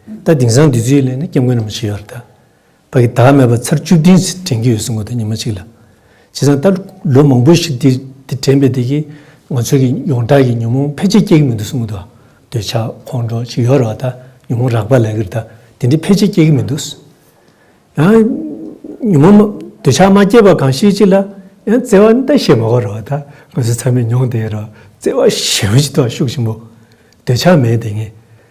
ད་དེང་སང་དེ་ཚོའི་ལས་ནི་སྐྱབས་མགོན་རིན་པོ་ཆེ་ཡོད་རེད་ད། བ་གི་དྭགས་མེད་པར་ཚར་བཅུ་བདུན་ཟིག་དྲན་གྱི་ཡོད་གསུང་གི་འདུག་ཉི་མ་གཅིག་ལ། བྱས་ཙང་ད་ལོ་མང་པོ་ཞིག་དེ་དྲན་པའི་དེ་གི་ང་ཚོའི་གི་ཡོངས་གྲགས་ཀྱི་ཉོན་མོངས་ཕལ་ཆེར་སྐྱེ་གི་མི་འདུག་གསུང་གི་འདུག་འདོད་ཆགས་ཁོང་ཁྲོ་ཞིག་ཡོད་རེད་བ་ད་ཉོན་མོངས་རགས་པ་ལས་གིར་ད་དེ་འདྲའི་ཕལ་ཆེར་སྐྱེ་གི་མི་འདུག། ཡང། ཉོན་མོངས་འདོད་ཆགས་མ་སྐྱེས་པ་གང་ཤེས་ཅི་ལ། ཡང་བརྩེ་བ་ད་ཞེས་མ་གོ་རེད་བ་ད་ང་ཚོའི་ཚང་མས་མྱོང་དེ་ཡོད་རེད་བ་བརྩེ་བ་ཞེས་པ་ཞིག་ཏུ་ཤུགས་ཆེན་པོ། འདོད་ཆགས་མེད་དེ་ངས་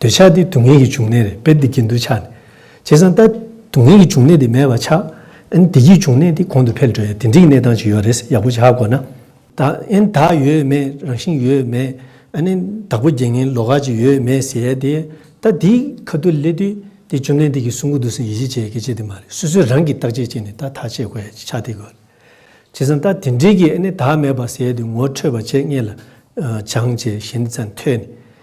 འདོད་ཆགས་ཏེ་སྡུག་བསྔལ་གྱི་འབྱུང་གནས་རེད་དཔེར་འདི་སྐྱེ་འདུལ་ཆགས་ནས། བྱས་ཙང་ལྟ། སྡུག་བསྔལ་གྱི་འབྱུང་གནས་དེ་མེད་པ་ཆགས། ཨན་བདེ་སྐྱིད་འབྱུང་གནས་དེ་གོང་དུ་འཕེལ་འགྲོ་ཡ་དེ་འདྲིའི་གནས་སྟངས་ཅིག་ཡོད་རེད་ཡག་པོ་ཆགས་དགོས་ན། བདག། ཨན་བདག་ཡོད་མེད་རང་བཞིན་ཡོད་མེད། ཨན། བདག་པོ་རྒྱལ་ངན་ལོག་ཁ་ཅིག་ཡོད་མེད་ཟེར་ཡ་དེ། ལྟ། དེ་ཁ་ཏུ་སླེ་དུས་དེ་བཅོམ་ལྡན་འདས་ཀྱི་གསུང་གོ་བསྡུར་ཟིན་ཡིད་ཆེས་བྱེད་གལ་ཆེ་དེ་མ་རེད་སོ་སོས་རང་གིས་བརྟག་དཔྱད་བྱས་ནས་ལྟ་ཐག་བཅད་དགོས་ཡ་ཅིག་ཆགས་དེ་དགོས་རེད། བྱས་ཙང་ལྟ། དེ་འདྲིའི་གིས་ཨན་བདག་མེད་པ་ཟེར་ཡ་དེ་ངོ་འཕྲོད་པ་བྱས་རྙེད་ལ། སྦྱངས་བྱས་ཞེན་ཙམ་ཐོས་ནས།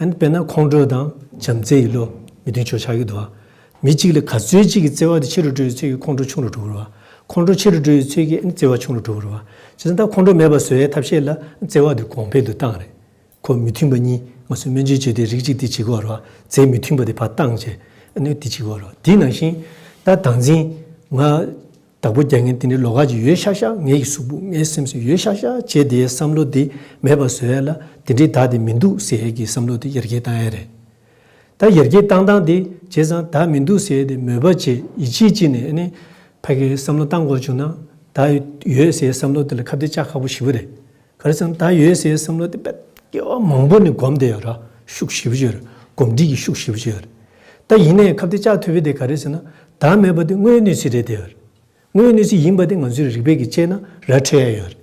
དཔེར་ན་ཁོང་ཁྲོ་དང་བྱམས་བརྩེ་ཡི་བློ། མི་མཐུན་ཕྱོགས་ཆགས་ཀྱི་འདུ་བ། མི་གཅིག་ལ་ག་ཚོད་ཅིག་གིས་བརྩེ་བ་དེ་ཆེ་རུ་འགྲོ་བའི་ཚུལ་གྱིས་ཁོང་ཁྲོ་ཆུང་རུ་འགྲོ་འུར་བ། ཁོང་ཁྲོ་ཆེ་རུ་འགྲོ་བའི་ཚུལ་གྱིས་བརྩེ་བ་ཆུང་རུ་འགྲོ་འུར་བ། ཇི་ལྟར་ཁོང་ཁྲོ་མེད་པར་བཟོ་བའི་ཐབས་ཤེས་ལ་བརྩེ་བ་དེ་གོང་འཕེལ་དུ་བཏང་རེས་ཁོ་མི་མཐུན་པ་གཉིས་ངོ་སོ་སྨན་བཅོས་བྱས་ཏེ་རིགས་གཅིག་དེ་གཅིག་གོ་རུ་བ་རྫས་མི་མཐུན་པ་དེ་བར་བཏང་བྱས་ནས་དེ་གཅིག་གོ་རུ་བ་དེའི་ནང་བཞིན་ད་དང་འཛིན་ང། བདག་པོ་རྒྱག་མཁན་དེ་ནི་ལོ་ཁ་ཅིག་ཡོད་ཤག་ཤག་ངེད་ཀྱི་གཟུགས་པོ་ངའི་སེམས་སུ་ཡོད་ཤག་ཤག་བྱེད་དེའི་བསམ་བློ་དེ་མེད་པ་བཟོ་ཡས་ལ་དེ་འདྲའི་བདག་དེ་མི་འདུག་ཟེར་ཡས་ཀྱི་བསམ་བློ་དེ་ཡར་རྒྱས་བཏང་ཡས་རེད། ད་ཡར་རྒྱས་བཏང་བཏང་དེ་བྱས་ཙང་བདག་མི་འདུག་ཟེར་ཡས་དེ་མོས་པ་བྱས་ཡིད་ཆེས་བགྱིས་ནས་ཨ་ནི་ཕ་གིས་བསམ་བློ་བཏང་དགོས་བྱུང་ན་བདག་ཡོད་ཟེར་ཡས་བསམ་བློ་དེ་ལ་ཁ་བརྡའི་ལྕགས་ཁ་པོ་ཞིག་པོ་རེད། གལ་སྲིད་ད་ཡོད་སའི་བསམ་བློ་དེ་བེད་སྐྱེལ་བ་མང་པོ་ནས་གོམས་ཏེ་ར་ཤུགས་ཞིབ་བཞི་རེད་གོམས་འདྲིས་ཀྱི་ཤུགས་ཞིབ་བཞི་རེད། ད་ཡིན་ནའི་ཁབ་དེ་བཅག་ཐུབ་པའི་དེ་ག་རེད་ཟེར་ན་ད་མེད་པ་དེ་དངོས་ཡོད་གནས་ཚུལ་རེད་དེ་རེད། དངོས་ཡོད་གནས་ཚུལ་ཡིན་པ་དེ་ང་ཚོའི་རིག་པས་ཀྱི་དཔྱད་ན་ར་འཕྲོད་ཡ་ཡོད་རེད།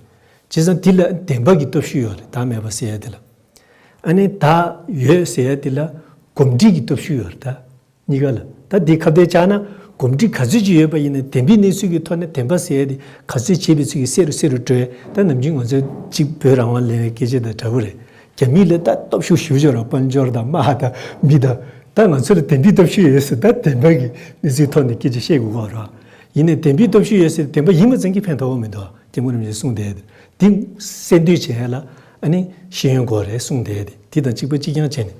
བྱས་ཙང་དེ་ལ་བདེན་པ་གི་སྟོབས་ཤུགས་ཡོད་རེད་ད་མེད་པ་ཟེར་ཡ་དེ་ལ། ཨ་ནི་ད་ཡོད་ཟེར་ཡ་དེ་ལ་གོམས་འདྲིས་ཀྱི་སྟོབས་ཤུགས་ཡོད་རེད་ད། གཉིས་ཀ་ལ་ད་དེའི་ཁ་བརྡའི་ཆ་ན་གོམས་འདྲིས་ག་ཚོད་ཅིག་ཡོད་པ་ཡིན་ན་དེ་འདྲའི་གནས་ཚུལ་གྱི་ཐོག་ནས་དེ་འབའ་སའི་དེ་ག་ཚོད་བྱས་པའི་ཚུལ་གྱིས་བསེ་རུ་བསེ་རུ་བྲོས་ད་ནམ་རྒྱུན་ང་ཚོ་གཅིག་བོད་རང་དབང་ལེན་བའི་སྐད་ཆ་དང་འདྲ་བོ་རེད་རྒྱ་མིས་ལ་ད་སྟོབས་ཤུགས་ཞུ་ཕྱོགས་ར་དཔལ་འབྱོར་དང་དམག་དང་མི་དང་ད་ང་ཚོ་ལ་དེ་འདྲའི་སྟོབས་ཤུགས་ཡོད་ཟེར་ད་དེ་འབའ་གི་གནས་ཚུལ་ཐོག་ནས་སྐད་ཆ་བཤད་དགོས་ཁོག་ར་ཡིན་ནས་དེ་འདྲའི་སྟོབས་ཤུགས་ཡོད་ཟེར་དེ་འབའ་ཡིད་མ་ཚིམ་གི་ཕན་ཐོག་མི་འདུག་སྐྱབས་མགོན་རིན་པོ་ཆེ་གསུངས་བསྡད་དེ་གསལ་འདོད་བྱས་ལ་ཨ་ནི་ཤེས་ཡོན་སྒོ་རེད་གསུངས་བསྡད་དེ་དེ་དང་གཅིག་པ་གཅིག་རྐྱང་བྱས་ནས་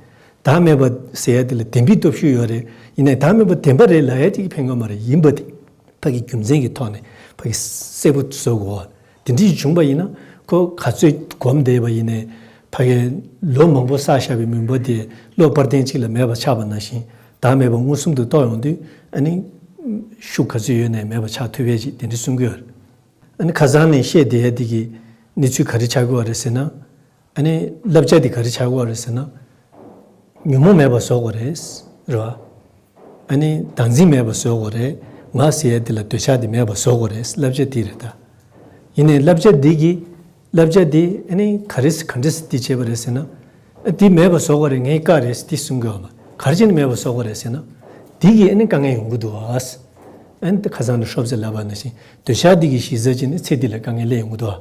བདག་མེད་པ་ཟེར་ཡ་དེ་ལ་བདེན་པའི་སྟོབས་ཤུགས་ཡོད་རེད་ཡིན་ནའི་བདག་མེད་པ་བདེན་པ་རེད་ལ་ཡ་གཅིག་གི་ཕན་ཀ་མ་རེད་ཡིན་པ་དེ་ཕ་གི་རྒྱུ་མཚན་གི་ཐོག་ནས་ཕ་གི་སྲས་པོ་བཟོ་དགོས་དེ་འདྲི་བྱུང་པ་ཡིན་ན་ཁོ་ག་ཚོད་སྒོམ་བསྡད་པ་ཡིན་ནའི་ཕ་གི་ལོ་མང་པོ་བསགས་བཞག་པའི་མུན་པ་དེ་གློག་སྤར་སྟེང་གཅིག་ལ་མེད་པ་ཆགས་པ་ན་བཞིན་བདག་མེད་པ་མངོན་སུམ་དུ་རྟོགས་ཡོང་དུས་ཨ་ནི་ཤུགས་ག་ཚོད་ཡོད་ནའི་མེད་པ་ཆགས་ཐུབ་བས་ཅིག་དེ་འདྲི་གསུང་གི་ཡོད་རེད་ཨ་ནི་ཁ་སང་ནས་བཤད་བསྡད་ཡ་དེ་གི་གནས་ཚུལ་ག་རེ་ཆགས་ཀྱི་བ་རེད་ཟེར་ན་ཨ་ནི་བསླབ་བྱ་དེ་ག་རེ་བྱ་དགོས་རེད་ཟེར་ན། ཉོན་མོངས་མེད་པར་བཟོ་དགོས་རེད། རེད་བ། ཨ་ནི་བདག་འཛིན་མེད་པར་བཟོ་དགོས་རེད། ང་ཟེར་ཡས་དེ་ལ་འདོད་ཆགས་དེ་མེད་པར་བཟོ་དགོས་རེད་བསླབ་བྱ་དེ་རེད་ད། ཡིན་ནའི་བསླབ་བྱ་འདི་གིས། བསླབ་བྱ་དེས་ཨ་ནི་ག་རེ་ག་འདྲི་ཟེར་འདི་བྱེད་པ་རེད་ཟེར་ན། ཨ་དེ་མེད་པར་བཟོ་དགོས་རེད་ངས་དཀའ་རེད་འདི་གསུང་དགོས་བ། ག་རེ་བྱས་ནས་མེད་པར་བཟོ་དགོས་རེད་ཟེར་ན། དེ་གིས་ཨ་ནི་དཀའ་ངལ་ཡོང་གི་འདུག་བ། ཨ་ནི་ཁ་སང་ནས་ཧྲོབ་ཙེ་ལབ་པ་ན་བཞིན་འདོད་ཆགས་དེ་གིས་གཞི་རྩ་གཅིག་ནས་ཚེ་འདི་ལ་དཀའ་ངལ་ཡོང་གི་འདུག་བ།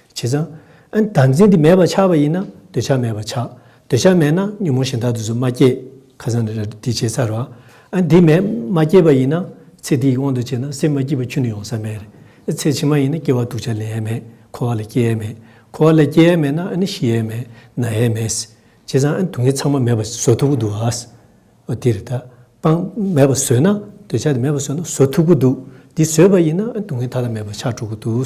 བྱས་ཙང། བདག་འཛིན་དེ་མེད་པར་ཆགས་པ་ཡིན་ན་འདོད་ཆགས་མེད་པར་ཆགས། འདོད་ཆགས་མེད་ན་ཉོན་མོངས་ཞེན་དག་དུས་སུ་མ་སྐྱེས། ཁ་སང་འདི་བྱས་ཚར་བ། འདི་མེད་མ་སྐྱེས་པ་ཡིན་ན། ཚེ་འདི་ཡི་དབང་དུ་བྱས་ན་སེམས་མ་སྐྱིད་པ་ཁྱོད་ནི་ཡོང་ས་མེད། ཚེ་ཕྱི་མ་ཡིན་ན་སྐྱེ་བ་འདུག་བྱ་ལེན་ཡས་མེད་འཁོར་བ་ལ་སྐྱེ་ཡས་མེད། འཁོར་བ་ལ་སྐྱེ་ཡས་མེད་ན་ཤི་ཡས་མེད་ན་ཡས་མེད། བྱས་ཙང་སྡུག་བསྔལ་ཚང་མ་མེད་པར་བཟོ་ཐུབ་ཀྱི་འདུག་ཨ། འདིར། སྤང། མེད་པར་བཟོས་ན། འདོད་ཆགས་དེ་མེད་པར་བཟོས་ན་བཟོ་ཐུབ་ཀྱི་འདུག་འདི་བཟོས་པ་ཡིན་ན་སྡུག་བསྔལ་ཐ་དད་མེད་པར་ཆགས་འགྲོ་གི་འདུག།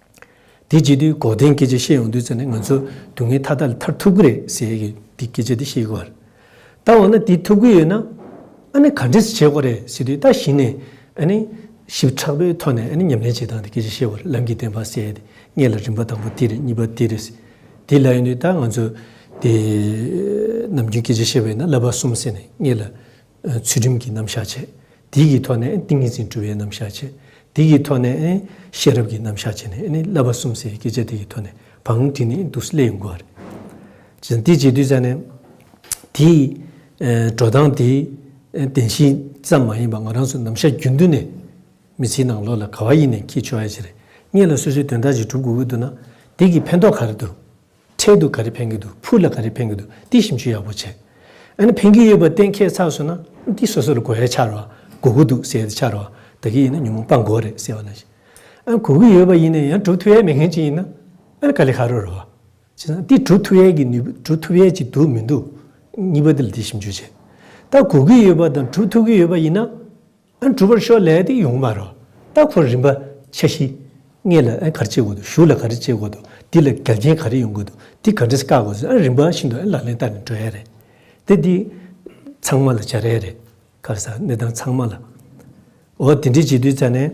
དེ་རྗེས་དུས་འགོག་བདེན་སྐད་ཆ་བཤད་ཡོང་དུས་ཚོད་ནི་ང་ཚོ་སྡུག་བསྔལ་མཐའ་དག་ལས་ཐར་ཐུབ་ཀྱི་རེད་ཟེར་གི་འདི་སྐད་ཆ་འདི་བཤད་གི་བར། ད་འོ་ན་དེ་ཐུབ་ཀྱི་ཡོད་ན། ཨ་ནི་ག་འདྲས་བྱེད་དགོས་རེད་ཟེར་དུས་ད་གཞི་ནས་ཨ་ནི། ཞིབ་ཕྲག་པོའི་ཐོག་ནས་ཨ་ནི་ཉམས་ལེན་བྱེད་སྟངས་འདི་སྐད་ཆ་བཤད་བར་ལམ་གྱི་བདེན་པ་གསལ་ཏེ་རྙེད་ལ་རིམ་པ་དང་པོ་འདི་རེད་གཉིས་པ་འདི་རེད། དེ་ལ་ཡོང་དུས་ད་ང་ཚོ། དེ། ནམ་རྒྱུན་སྐད་ཆ་བཤད་པ་ཡིན་ན་བསླབ་པ་གསུམ་ཟེར་ནས་རྙེད་ལ། ཚུལ་ཁྲིམས་ཀྱི་རྣམ་གཞག་བྱེད། དེའི་གི་ཐོག་ནས་ཏིང་ངེ་འཛིན་དཀྲུལ་བའི་རྣམ་གཞག་བྱེད། དེའི་གི་ཐོག་ནས་ཤེས་རབ་ཀྱི་རྣམ་གཞག་བྱེད་ནས་བསླབ་པ་གསུམ་སའི་སྐད་ཆ་དེ་གི་ཐོག་ནས་བང་རིམ་དེ་ནི་དུག་སེལ་ཡིན་དགོས། ཅེས་དང། དེ་བྱེད་དུས་ཙམ་ནས། དེའི་འགྲོ་སྟངས་དེ་བདེན་བཞི་ཙམ་མ་ཡིན་པར་ང་རང་ཚོའི་རྣམ་གཞག་རྒྱུན་མཐུན་ནས་མི་ཚེའི་ནང་ལོགས་ལ་ག་བ་ཡིན་ནས་འཁྱེར་ཆོག་ཡ་ཅེས་རེ་སྙེག་ལ་སོ་སོའི་དོན་དག་ཅིག་གྲུབ་དགོས་ཀྱི་འདུག་ན་དེ་གི་ཕན་ཐོགས་ག་རེ་འདུག། འཕྲལ་དུ་ག་རེ་ཕན་གི་འདུག་ཕུགས་ལ་ག་རེ་ཕན་གི་འདུག་འདི་ཞིབ་འཇུག་ཡག་པོ་བྱེད་ཨ་ནི་ཕན་གི་ཡོད་པ་གཏན་འཁེལ་ཚར་སོང་ན་འདི་སོ་སོ་ལ་གོ་བའི་ཆར་བ་གོ་གི་འདུག་ཟེར་ཏེ་ཆར་བ་དག་གི་ཡིན་ན་ཉོན་མོངས་པ་འགོ་རེད་ཟེར་བ་ལ་བཞིན་ཨ་གོ་གི་ཡོད་པ་ཡིན་ན་ཡང་གྲུབ་ཐུབ་ཡས་མེད་མཁན་ཅིག་ཡིན་ན་ཨ་ནི་ག་ལེ་ཧ་རོ་རོ་བ་བྱེད་ན་འདི་གྲུབ་ཐུབ་ཡས་ཀྱི་ནུས་པ་གྲུབ་ཐུབ་ཡས་ཀྱི་འདུག་མི་འདུག་གཉིས་པ་འདི་ལ་འདི་ཞིབ་འཇུག་བྱེད་ད་གོ་གི་ཡོད་པ་དང་གྲུབ་ཐུབ་ཀྱི་ཡོད་པ་ཡིན་ན་ཨན་གྲུབ་པར་ཤོག་ལས་དེ་ཡོང་མ་རོགས་ལྟ་ཁོ་རིན་པ་ཆ་བཞི། ངེད་ལ་ཨན་ག་རེ་བྱེད་དགོས་འདུག་ཞུགས་ལ་ག་རེ་བྱེད་དགོས་འདུག་འདི་ལ་འགལ་རྐྱེན་ག་རེ་ཡོང་དགོས་འདུག་འདི་ག་འདྲེས་བཀག་དགོས་ཟེར་ཨན་རིན་པ་ཤིན་ཏུ་ཨན་ལག་ལེན་བསྟར་ནས་འགྲོ་ཡས་རེད་དེ། འདི་ཚང་མ་ལ་བྱ་རེས་རེད། ཁ་བསགས་གནས་སྟངས་ཚང་མ་ལ། འོ་དེ་འདྲས་བྱེད་དུས་ཙ་ནས།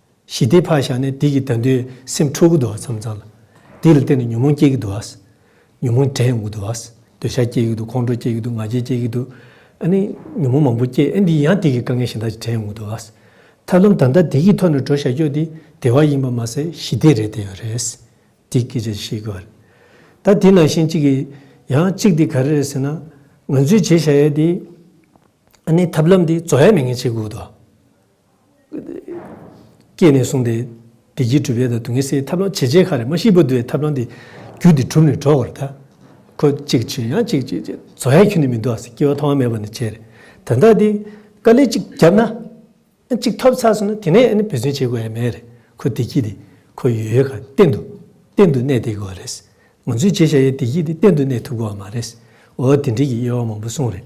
ཞི་བདེའི་ཕ་བཞག་ནས་སྡིག་གི་དགྲ་འདུལ་སེམས་འཁྲུག་གི་འདུག་བསམ་ཚར་ལ། སྡིག་ལ་བརྟེན་ནས་ཉོན་མོངས་སྐྱེ་གི་འདུག། ཉོན་མོངས་དྲན་འོང་གི་འདུག། འདོད་ཆགས་སྐྱེ་གི་འདུག་ཁོང་ཁྲོ་སྐྱེ་གི་འདུག་ང་རྒྱལ་སྐྱེ་གི་འདུག། ཨ་ནི། ཉོན་མོངས་མང་པོ་སྐྱེ་ཨེ་འདི་ཡང་སྡིག་གི་དཀའ་ངལ་གཞན་དག་ཅིག་དྲན་འོང་གི་འདུག། ཐབས་ལམ་དང་དག་སྡིག་གི་ཐོག་ནས་འགྲོ་བཞག་ཀྱོག་འདི་བདེ་བ་ཡིན་པ་མ་ཟད་ཞི་བདེ་རེད་དེ་ཡང་རེད། སྡིག་སྐྱེ་བྱ་ཞིག་ཤེས་དགོས་པ་རེད། ད་དེ་ནང་བཞིན་གཅིག་གིས། ཡང་གཅིག་འདི་ག་རེ་རེད་ཟེར་ན། ང་ཚོས་བྱེད་བཞག་ཡས་འདི། ཨ་ནི་ཐབས་ལམ་འདི་རྫོགས་ཡས་མེད་ངེས་བྱེད་དགོས་གི་འདུག། སྐྱེས་ནས་བཟུང་སྟེ། བདེ་སྐྱིད་གྲུབ་ཡས་དང་སྡུག་བསྔལ་སེལ་ཐབས་ལམ་ཇེ་ཆེ་ཁ་རེ་མ་ཤི་བུ་འདུལ་བའི་ཐབས་ལམ་འདི། རྒྱུ་འདི་གྲུབ་ནས་འགྲོ་བར་གདའ། ཁོ་གཅིག་བྱོན་ཡང་གཅིག་བྱེད་ཅེས་བཟོ་ཡ་ཁྱོན་ནས་མི་འདུག་ཨ་སི་སྐྱེ་བ་ཐོག་མ་མེད་པ་ནས་བྱས་རེད། དོན་དག་འདི། དཀའ་ལས་གཅིག་བརྒྱབ་ན། གཅིག་ཐོབ་ཚར་སོང་ན་དེ་ནས་ཨ་ནི་བེད་སྤྱོད་བྱེད་དགོས་ཡ་མེད་རེད། ཁོ་བདེ་སྐྱིད་འདི། ཁོ་ཡོད་ཡོད་ག་གཏན་དུ། གཏན་དུ་གནས་བསྡད་དགོས་རེད། ང་ཚོས་བྱེད་བཞག་ཡའི་བདེ་སྐྱིད་འདི་གཏན་དུ་གནས་ཐུབ་དགོས་བ་མ་རེད། འོ་དེ་འགྲིག་གི་དབྱེ་བ་མང་པོ་གསུངས་རེད།